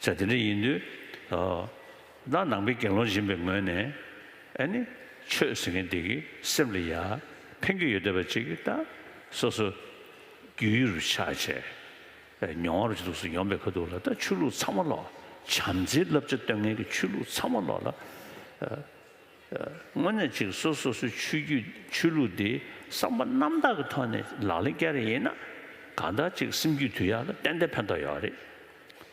ཆ་དེ་འདྲ་ཡིན་དུས། བདག་ནང་པའི་དགེ་སློང་སྦྱིན་པའི་ངོས་ནས། ཨེ་ནི། ཆོས་ཟེར་མཁན་དེ་གི་སེམས་ལ་ཡ། ཕན་གྱི་ཡོད་འདོད་པ་ཅིག་གིས་ད། སོ་སོ། རྒྱུའི་རུ་ཆ་བྱས། མྱོང་བར་བྱེད་དུག་སུ་ཡོང་པའི་ཁ་ཐུག་ལ་ད་ཆོས་ལུགས་ཚང་མ་ལོག། བྱམས་བརྩེའི་བསླབ་བྱ་སྟོན་མཁན་གྱི་ཆོས་ལུགས་ཚང་མ་ལོག་ལ། དངོས་གནས་ཅིག་གསོ་སོ་སོའི་ཆོས་བརྒྱུད་ཆོས་ལུགས་འདི་བསམ་པ་རྣམ་དག་གི་ཐོག་ནས་ལག་ལེན་བསྐྱལ་རེ་ཡིན་ན་གང་ལྟར་ཅིག་སེམས་རྒྱུད་དུས་ཡག་ལ་ཏན་ཏན་ཕན་ཐོག་ཡོད་རེད།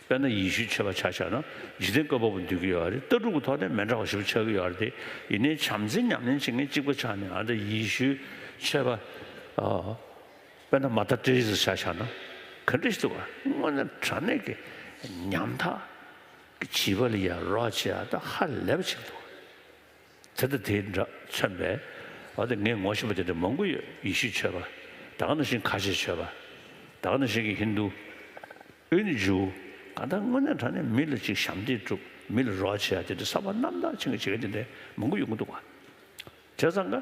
དཔེར་ན་ཡི་ཤུ་ཆེ་བ་ཆགས་ཆགས་ན་འཇིག་རྟེན་སྐྱོ་པོ་པོ་འདུག་གི་ཡོད་རེད་ལྟ་གྲུབ་ཀྱི་ཐོག་ནས་མན་འདྲ་བ་ཞིག་པོ་ཆགས་གི་ཡོད་རེད་དེ་ཡིན་ནའི་བྱམས་བརྩེ་ཉམས་ལེན་བྱེད་མཁན་གཅིག་པོ་ཆགས་ནས་ཨ་མདའ་ཡི་ཤུ་ཆེ་བ། དཔེར་ན་མ་ད་ཏྲེ་རེ་ཟ་ཆགས་ཆགས་ན་ག་འདྲ་ཞིག་འདུག་ག་དངོས་གནས་དྲ་གནས་ཀྱི་ཉམ་ཐག་བྱིས་པ་ལ་ཡང་རོགས་བྱེད་ཨ་ཐ་ཧ་ལས་པ་ཞིག་འདུག་དེ་ལྟ་དེའི་འདྲ་མཚོན་པས་ཨ་ཐ་ངས་ངོ་ཤེས་པ་དེ་འདྲ་མང་པོ་ཡོད་ཡེ་ཤུ་ཆོས་པ་ད་ག་ནང་བཞིན་ཁ་ཆེ་ཆོས་པ་ད་ག་ནང་བཞིན་གྱི་ཧིན་དུ་ཨུ་ནི་ཇུ་གང་ལྟར་དངོས་གནས་དྲང་གནས་མི་ལ་ཅིག་ཞམ་འདེགས་སྒྲུབ་མི་ལ་རོགས་བྱེད་ཨ་དེ་འདྲ་གསར་བ་རྣམ་དག་ཆེན་གྱི་བྱེད་མཁན་དེ་འདྲ་མང་པོ་ཡོད་ཀྱི་འདུག་བ་ཇག་ཚང་ག།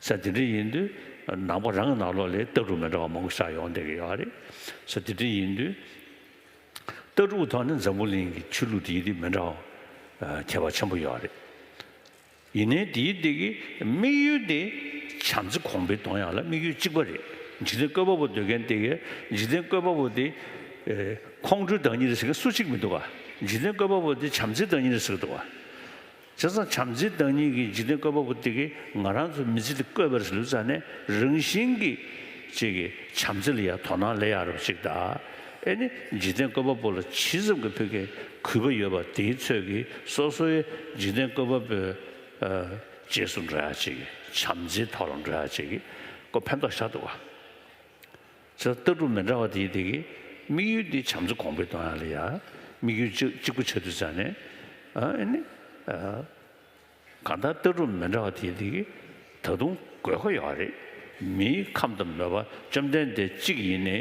ས་དེ་འདྲ་ཡིན་དུས་ནང་པ་རང་གི་ནང་ལོགས་ལས་ལྟ་གྲུབ་མི་འདྲ་བ་མང་པོ་ཤར་ཡོང་བསྡད་ཀྱི་ཡོད་རེད། ས་དེ་འདྲ་ཡིན་དུས་ལྟ་གྲུབ་ཀྱི་ཐོག་ནས་འཛམ་བུ་གླིང་གི་ཆོས་ལུགས་དེའི་རིགས་མི་འདྲ་བ་ཁྱད་པར་ཆེན་པོ་ཡོད་རེད། ཡིན་ནའི་དེའི་སྟེང་གི་དམིགས་ཡུལ་དེ་བྱམས་བརྩེ་གོང་འཕེལ་གཏོང་ཡག་ལ་དམིགས་ཡུལ་གཅིག་པ་རེད། འཇིག་རྟེན་བཀོད་པ་པོ་འདོད་མཁན་དེ་གས་འཇིག་རྟེན་བཀོད་པ་པོ་དེ་ཁོང་ཁྲོའི་བདག་ཉིད་རེད་ཟེར་མཁན་སུ་གཅིག་མི་འདུག་ག་འཇིག་རྟེན་བཀོད་པ་པོ་དེ་བྱམས་བརྩེའི་བདག་ཉིད་རེད་ཟེར་གི་འདུག་ག། བྱས་ཙང་བྱམས་བརྩེའི་བདག་ཉིད་ཀྱི་འཇིག་རྟེན་བཀོད་པ་པོ་དེ་གིས་ང་རང་ཚོའི་མི་ཚེ་འདི་བཀོད་པར་ལུས་ཙང་ནས་རང་བཞིན་གྱིས་བཅས་ཀྱི་བྱམས་བརྩེ་ལ་ཡང་དོ་སྣང་ལས་ཡ་རབས་ཅིག་གདའ། ཨེ་ནི་འཇིག་རྟེན་བཀོད་པ་པོ་ལ་ཇི་ཙམ་གྱི་ཕུགས་ཀྱི་གུས་པ་ཡོད་པ་དེའི་ཚོད་ཀྱིས་སོ་སོའི་འཇིག་རྟེན་བཀོད་པ་པོའི་རྗེས་སུ་འགྲོ་ཡ་བཅས་ཀྱི་བྱམས་བརྩེའི་ཐོག་ལ་འགྲོ་ཡ་བཅས་ཀྱི་སྐོར་ཕན་ཐོགས་ཤ་སྟོབས། ཚོད་ལྟ་གྲུབ་མི་འདྲ་བ་དེའི་སྟེང་གི་དམིགས་ཡུལ་དེ་བྱམས་བརྩེ་གོང་འཕེལ་གཏོང་ཡག་ལ་ཡང་དམིགས་ཡུལ་གཅིག་གཅིག་པུ་ཆ་དུས་ཚང་ནས་ཨ་ནི་གང་ལྟར་ལྟ་གྲུབ་མི་འདྲ་བ་དེའི་སྟེང་གི་ད་དུང་དགོས་མཁོ་ཡོད་པ་རེད། མིའི་ཁམས་དང་མོས་པ་བཅོམ་ལྡན་འདས་གཅིག་ཡིན་ནའི་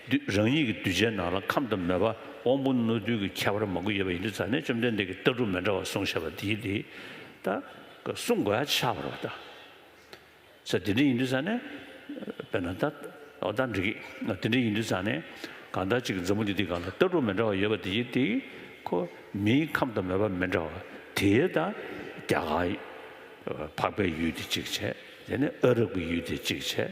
དུས་རང་ཉིད་ཀྱི་གདུལ་བྱའི་ནང་ལ་ཁམས་དང་མོས་པ་དབང་པོ་རྣོ་རྟུལ་གྱི་ཁྱད་པར་མང་པོ་ཡོད་པ་ཡིན་དུས་ཚང་ནས་བཅོམ་ལྡན་འདས་ཀྱིས་ལྟ་གྲུབ་མི་འདྲ་བ་གསུངས་ཞེས་པ་དེའི་སྟེང་ད་གསུངས་དགོས་ཧ་ཆེ་ཆགས་པར་བལྟ། ས་དེ་འདྲ་ཡིན་དུས་ས་ནས། དཔེར་ན། ད་ལྟ་འདྲི་གི། དེ་འདྲ་ཡིན་དུས་ས་ནས། གང་ལྟར་ཅིག་མཛའ་མོ་དེ་དེ་ག་ལ་ལྟ་གྲུབ་མི་འདྲ་བ་ཡོད་པ་དེ་ཡིན་ཏེ། ཁོ། མིའི་ཁམས་དང་མོས་པ་མི་འདྲ་བ་དེའི་ད། རྒྱ་གང། འཕགས་པའི་ཡུལ་དེ་གཅིག་བྱས། དེ་ནས་ཨ་རབ་ཀྱི་ཡུལ་དེ་གཅིག་བྱས།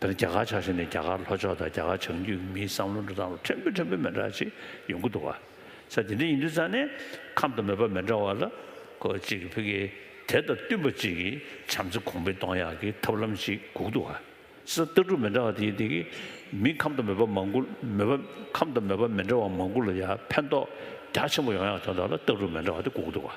འདིར་རྒྱ་གར་ཆགས་ཞེན་ནི་རྒྱ་གར་ལྷོ་ཕྱོགས་དང་རྒྱ་གར་བྱང་རྒྱུད་ཀྱི་མིའི་བསམ་བློ་འགྲོ་སྟངས་ལ་ཕྲན་བུ་ཕྲན་བུ་མི་འདྲ་བ་ཞིག་ཡོང་གི་འདུག་བ། ས་དེ་འདྲའི་ཡིན་དུས་ཙང་ནས་ཁམས་དང་མོས་པ་མི་འདྲ་བ་ལ་གོ་གཅིག་གི་ཕུགས་ཀྱི་དེ་དང་བསྟུན་པ་གཅིག་གི་བྱམས་བརྩེ་གོང་འཕེལ་གཏོང་ཡག་གི་ཐབས་ལམ་ཞིག་སྒུག་འདུག་བ། ས་ལྟ་གྲུབ་མི་འདྲ་བ་དེ་དེ་གི་མིའི་ཁམས་དང་མོས་པ་མང་གུ་མོས་པ་ཁམས་དང་མོས་པ་མི་འདྲ་བ་མང་གུ་ལ་ཡང་ཕན་ཐོགས་རྒྱ་ཆེན་པོ་ཡོང་ཡག་དོན་དག་ལ་ལྟ་གྲུབ་མི་འདྲ་བ་དེ་སྒུག་འདུག་བ།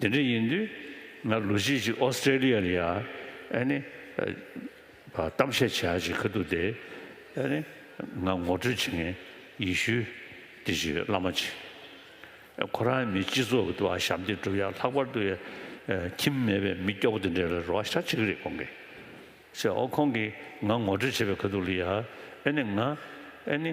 དེ་འདྲ་ཡིན་དུས་ང་ལོ་གཅིག་ཅིག་ཨོ་སི་ཀྲེ་ལི་ཡ་ལ་ཡང་ནི་གཏམ་བཤད་བྱས་ཡ་ཅིག་གི་འདུག་སྟེ། ནི་ང་ངོ་སྤྲོད་བྱེད་མཁན་ཡེ་ཤུ་སྟེ་ཅིག་བླ་མ་ཅིག་ཁོ་རང་མི་སྤྱི་ཚོགས་ཀྱི་དུ་བ་ཞབས་འདེགས་སྒྲུབ་ཡ་ལྷག་པར་དུ་ཁྱིམ་མེད་པའི་མི་སྐྱོ་བོ་དེ་འདྲ་ལ་རེ་བ་ཤ་ཆེ་གི་རེད་ཁོང་གིས་བཤད་ཨོ་ཁོང་གིས་ང་ངོ་སྤྲོད་བྱས་པའི་གི་འདུག་ལི་ཡ་ནི་ང་ནི་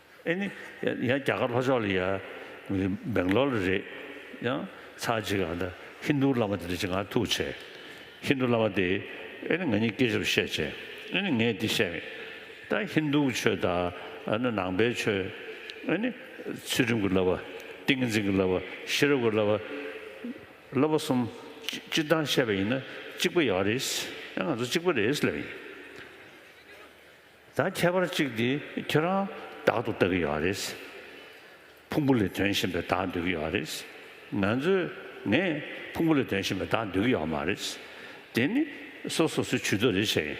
ཨེ་ནི། ཡང་རྒྱ་གར་ལྷོ་ཕྱོགས་ལ་ཡ། སྦེང་ལོར་ལ་རེད། ཡང། ཚ་གཅིག་ག་འདྲ། ཧིན་རྡུ་བླ་མ་དེ་འདྲ་གཅིག་ང་ཐུག་བྱས། ཧིན་རྡུ་བླ་མ་དེས། ཨེ་ནི་ང་གཉིས་སྐད་ཆ་རུ་བཤད་བྱས། ཨེ་ནི་ངས་འདི་བཤད་མེད། ད་ཧིན་རྡུ་གི་ཆོས་དང། ཨ་ནི་ནང་པའི་ཆོས། ཨེ་ནི། ཚུལ་ཁྲིམས་ཀྱི་བསླབ་པ། ཏིང་འཛིན་གྱི་བསླབ་པ། ཤེས་རབ་ཀྱི་བསླབ་པ། བསླབ་པ་གསུམ། སྤྱིར་བཏང་བཤད་པ་ཡིན་ན། གཅིག་པ་ཡག་རེད། ཨེ་ང་ཚོ་གཅིག་པ་རེད་ལབ་ཡིན། ད་ཁྱད་པར་ཅིག་འདི་ཁྱོད་རང་བདག་ཏུ་ལྟ་གི་ཡོད་རེད། ཕུང་པོ་ལས་དོན་བཞིན་པའི་བདག་འདོད་ཀྱི་ཡོད་རེད། ང་ཚོས་ངས་ཕུང་པོ་ལས་དོན་བཞིན་པའི་བདག་འདོད་ཀྱི་ཡོད་མ་རེད། དེ་ནི་སོ་སོ་སོའི་ཇུས་གཏོགས་རེད་བྱས་ཡིན།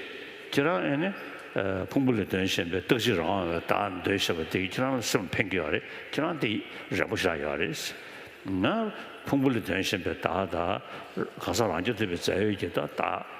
ཁྱེད་རང་ཨེ་ནི། ཕུང་པོ་ལས་དོན་བཞིན་པའི་རྟག་གཅིག་རང་དབང་བའི་བདག་འདོད་ཞེས་པ་དེས་ཁྱེད་རང་ལ་སེམས་ལ་ཕན་གྱི་ཡོད་རེད། ཁྱེད་རང་དེ་རེ་བོ་བཞག་ཡོད་རེད། ང་ཕུང་པོ་ལས་དོན་བཞིན་པའི་བདག་དང། གང་ཟག་རང་སྐྱོང་ཐུབ་པའི་རྩལ་ཡོད་ཀྱི་བདག།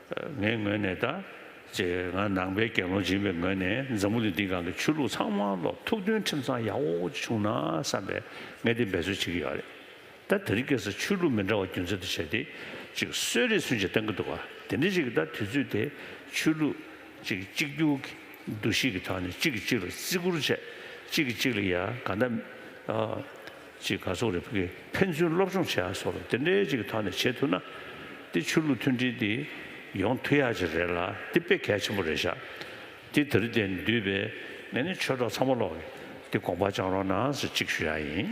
ངའི་ངོས་ནས་ད་ཅེས་ང་ནང་པའི་རྒན་ལོ་སྦྱིན་པའི་ངོས་ནས་འཛམ་བུ་གླིང་འདིའི་སྒང་གི་ཆོས་ལུགས་ཚང་མ་ལ་ཐུགས་མཐུན་ཁྲིམས་གཙང་ཡག་པོ་ཅིག་བྱུང་ན་བསམ་པའི་ངས་དེ་འབད་རྩོལ་བྱེད་ཀྱི་ཡོད་རེད། ད་དེ་རིང་སྐད་ས་ཆོས་ལུགས་མི་འདྲ་བ་རྒྱུ་མཚན་དུ་བྱས་ཏེ་ཅིག་གསོད་རེས་ཚུན་ཆད་བཏང་གི་འདུག་དེ་འདྲའི་ཅིག་ད་དུས་ཚོད་དེ་ཆོས་ལུགས་ཅིག་གཅིག་གྱུར་གྱི་འདུ་ཤེས་ཀྱི་ཐོག་ནས་ཅིག་གིས་ཅིག་ལ་བརྩི་བཀུར་བྱས་ཅིག་གིས་ཅིག་ལ་ཡ་ག་འདའ། ཅིག་ག་ཚོགས་རེ་ཕུ་གེ་ཕན་ཚུན་སློབ་སྦྱོང་བྱེད་ཡག་སོགས་དེ་འདྲའི་ཅིག་ཐོག་ནས་བྱེད་ཐུབ་ན། དེ་ཆོས་ལུགས་མཐུན་སྒྲིལ་དེ་ཡོང་ཐུ་ཡག་ཅིག་རེད་ལ་དེ་དཔེ་གལ་ཆེན་པོ་རེད་ཤག་དེ་དེ་རི་དེ་འདུས་པའི་ངས་ནི་ཆོས་གྲོགས་ཚང་མ་ལོག་གི་དེ་དགོངས་པ་བཅང་རོགས་གནང་ཟེར་ཅིག་ཞུ་ཡག་ཡིན།